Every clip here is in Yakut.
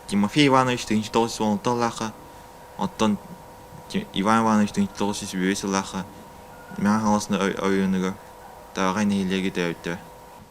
Тимофей Иванович тыһыынча тоҕус уон алталаахха, оттон Иван Иванович тыһыынча тоҕус сүүс биэс сыллаахха Мэҥэ Хаҥаласна оройуонугар Таҕай нэһилиэгэ төрөттө.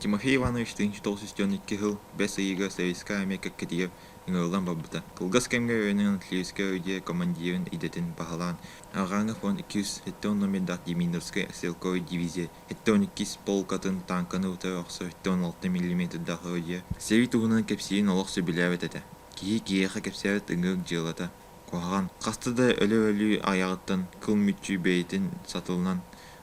Тимофей Иванович тыһыынча тоҕус сүүс түөрт икки сыл бэс ыйыгар Советскай армия кэккэтигэр ыҥырыллан барбыта. Кылгас кэмҥэ өйөнөн Алтаевскай ордер командирын идэтин баһылаан, Арҕааҥҥы фронт икки сүүс сэттэ уон номердаах Демидовскай стрелковай дивизия Оттон иккис полкатын тааҥканы ута охсор тоон алта миллиметр даҕайыа. Сэрии туһунан кэпсиирин олох сөбүлээбэт этэ. Киһи киһиэхэ кэпсээбит ыҥыыр дьыалата куһаҕан. Хаста да өлө-өлүү айаҕыттан кыл мүччү бэйэтин сатылынан,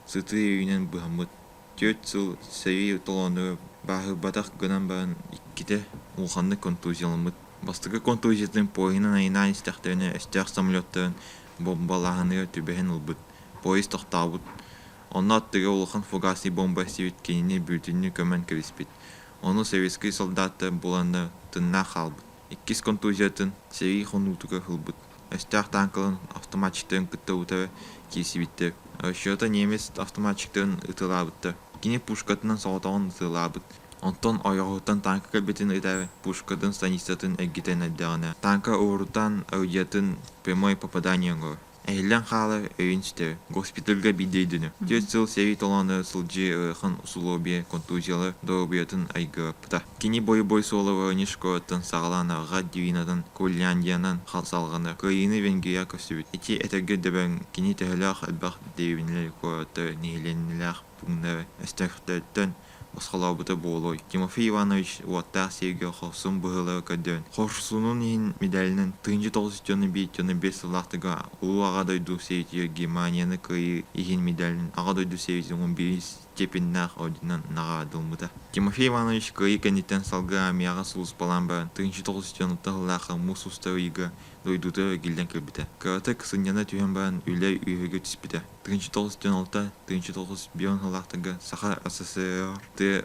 сытыы өйүнэн быһаммыт. Түөрт сыл сэрии толоону бааһырбатах гынан баран иккитэ улаханнык контузияламмыт. Бастакы контузиятын поездынан айаннаан истэхтэринэ өстөөх самолеттарын бомбалааһыныгар түбэһэн ылбыт. Поезд тохтообут. Онно аттыгар улахан фугасный бомба эстибит кинини бүрүтүннүү көмөн кэбиспит. Ону советскай солдаттар буланнар тыннаах хаалбыт. Иккис контузиятын сэрии хонуутугар ылбыт. Өстөөх тааҥкаларын автоматчиктарын кытта утары киирсибиттэр. Расчета немец автоматчиктарын ытыалаабыттар. Кини пушкатынан соҕотоҕун ытыалаабыт. Онтон ойоҕоһуттан тааҥка кэлбитин ытары пушкатын станицатын эргитэн эрдэҕинэ, тааҥка уоруттан орудиятын прямое попадание оҥорор. Эһиллэн хаалар өйүн ситэр. Госпитальга биир дөйдүнэ. Түөрт сыл сэрии толоонугар сылдьыы ыарахан усулуобуйа контузиялар доруобуйатын айгыһаппыта. Кини бойобуой суола Воронеж куораттан саҕалаан Арҕат Дивинатын, Кольляндиянан салҕана, Кыайыыны Венгрияҕа көстүбүт. Ити этэргэ дөбөҥ, кини төһөлөөх элбэх дэриэбинэлэр, куораттар, нэһилиэнньэлээх пууннар өстөөхтөрүттэн босхолообута буолуой. Тимофей Иванович уоттаах сиэргэ хорсун быһыылары көрдөбүн. Хорсунун иһин медалынан тыынча тоҕус дьону биир дьону биир сыллаахтыга Улуу Аҕа дойду сэрэтиитигэр Германияны кыайыы иһин медалин Аҕа дойду сэбиэтин он биирис степеннээх орденынан наҕараадалыммыта. Тимофей Иванович кыайыы кэнниттэн салгыы армияҕа сулууспалаан баран тыынча тоҕус дьон алтыһыылаах муус устар ыйга дойдута эргиллэн кэлбитэ. Кыратык сынньана түһэн баран үлэ үөһүгэ түспүтэ. Тыынча тоҕус түөн алта тыынча тоҕус бион сылаахтарга Саха СССР тыа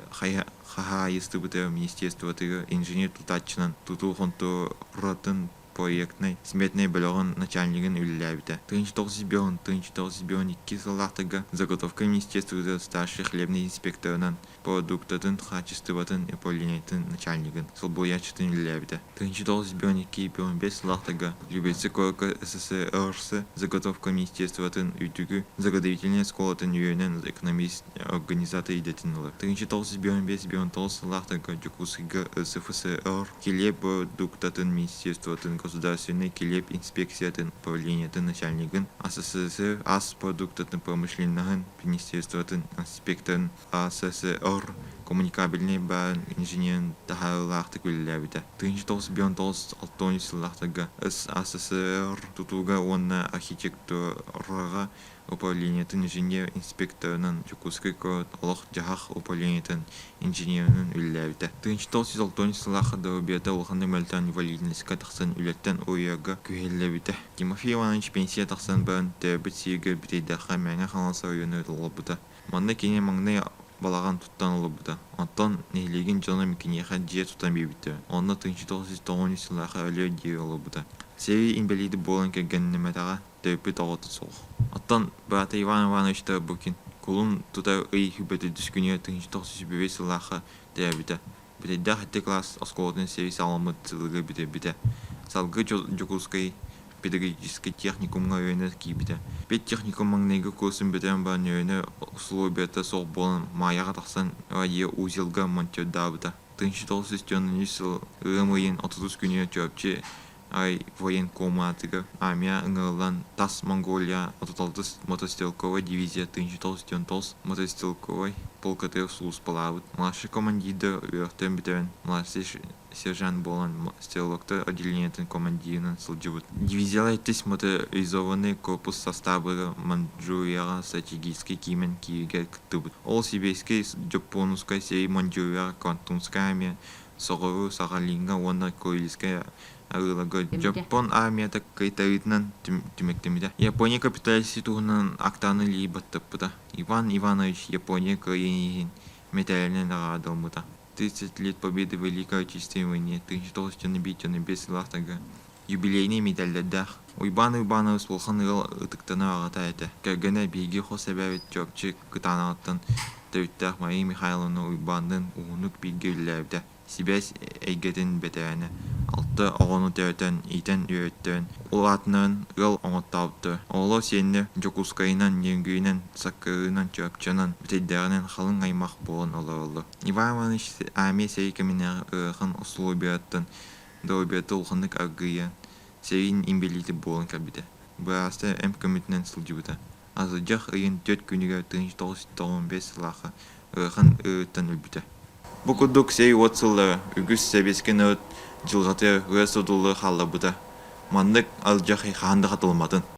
хаһаайыстыбата министерствотыгар инженер-тутааччынан тутуу хонтуоратын проектнай сметнай бөлөҕүн начальнигын үлэлээбитэ. Тыынча тоҕус бион тыынча тоҕус бион икки сылаахтарга заготовка министерствотыгар старший хлебный инспекторынан продуктатын хаачыстыбатын управлениетын начальнигын солбуйааччытын үлэлээбитэ. Тыынчыталыс бион икки бион бэс лаахтага Любецкай куоракка СССР заготовка министерствотын үрдүкү заготовительнай оскуолатын үөрэнэн экономист организатор идэтин ылар. Тыынчыталыс бион бэс бион талыс лаахтага Дьокуускайга СФСР килиэп продуктатын министерствотын государственнай килиэп инспекциятын управлениетын начальнигын СССР ас продуктатын промышленноһын министерствотын инспекторын АССР коммуникабельнай баан инженерин таһаарыылаахтык үлэлээбитэ. тыһыынча тоҕус бүтүн он тоҕус алтыонньус сыллаахтарга СССР тутууга уонна архитектураҕа управлениетын инженер инспекторынан Дьокуускай куорат олох-дьаһах управлениетын инженеринэн үлэлээбитэ. тыһыынча тоҕус жүз алтыонньус сыллаахха доруобуйата улаханнык мөлтөөн инвалидностька тахсан үлэттэн уйуурга күһэллэбитэ. Тимофей Иванович пенсия тахсан баран төрөөбүт сиригэр бүтэйдэххэ Мэҥэ Хаҥалас оройуонугар олорбута. Манна кини маҥнай балаҕан туттан олорбута, оттон нэһилиэгин дьоно киниэхэ дьиэ тутан биэрбиттэрэ, онно тыынча тоҕус тоҕуон сыллаах өлүө диэри олорбута. Сэрии инбэлиитэ буолан кэргэннэммэтэҕэ, төрөппүт оҕото суох. Оттон быраата Иван Ивановичтар Букин кулун тута ый сүүрбэ төрдүс күнүгэр тыынча тоҕус сүүс бүбэй сыллаахха Төрөөбүтэ. Бүтэйдээх икки класс оскуолатын сэрии саҕаламмыт сылыгы бүтэрбитэ. Салгыы Дьокуускай педагогическай техникумҥа үөрэнэ киирбитэ. Педтехникум маҥнайгы курсын бүтэрэн баран үөрэнэр усулуобуйата суох буолан Маайаҕа тахсан радиоузелга монтиордаабыта. 1993 сыл ыам ыйын 30 күнүгэр Чурапчы Ай военкоматыгар Амиа ыҥырыллан тас Монголия отут-алтыс мотострелковай дивизиятын сүүс-тоҕус тоҕус мотострелковай полкатыгар сулууспалаабыт младшай командирдара үөртэн бүтэрэн младший сержант буолан стрелоктар отделениетын командирынан сылдьыбыт. Дивизияҕа иккис моторизованный корпус састаабыгар Манчжурияҕа стратегическай киинин кииригэр кыттыбыт. Ол сибирскай Дьоппуонускай сирэй Манчжурияҕа Кантунская армия соҕуруу Сахалиҥҥа уонна Курильская Аыларга Дьоппон армията кытайытынан түмүктэммитэ. Япония капиталистии туһунан актаны лии баттаппыта. Иван Иванович Япония кыайыыһын мэтээлинэн наҕараадаламмыта. 30 лет победы Великой Отечественной войне, 1905-1905 сыллаахтарга Юбилейнай миитэрдэрдээх. Уйбаан Уйбаанабыс улахан ыал ытыктанар аҕата этэ. Кэргэнэ биһиги хос эбээбит Чурапчы Кытаанаҕыттан төрүттээх Мария Михайловна Уйбаанныын уһуннук бииргэ үлэлээбитэ. Сибээс эйгэтин бэтэрээнэ. Алта оҕону төрөтөн, иитэн-үөрэтэн, ол аатынан ыал оҥоттообуттар. Оҕолор сиэннэр Дьокуускайынан, Ньургүйүнэн, Саккырыынан, Чурапчынан, бүтэйдээҕинэн халыҥ аймах буолан олороллор. Иван Иванович армия сэрии кэминээҕи ыарахан усулуобуйаттан да обедта улаханнык аргыйа, сэриин инбэлиитэ буолан кэлбитэ. Быраастара эмп көмөтүнэн сылдьыбыта. Асылдьах ыйын түөрт күнүгэр тыһыынча тоҕус жүз тоҕус бэс сыллаахха ыарахан ыарыыттан өлбүтэ. Бу курдук сэрии-уот сыллара үгүс сэбиэскэй норуот дьылҕатыгар ыра сутуллары хаалларбыта. Маннык алдьархай хаһан да хатылымматын.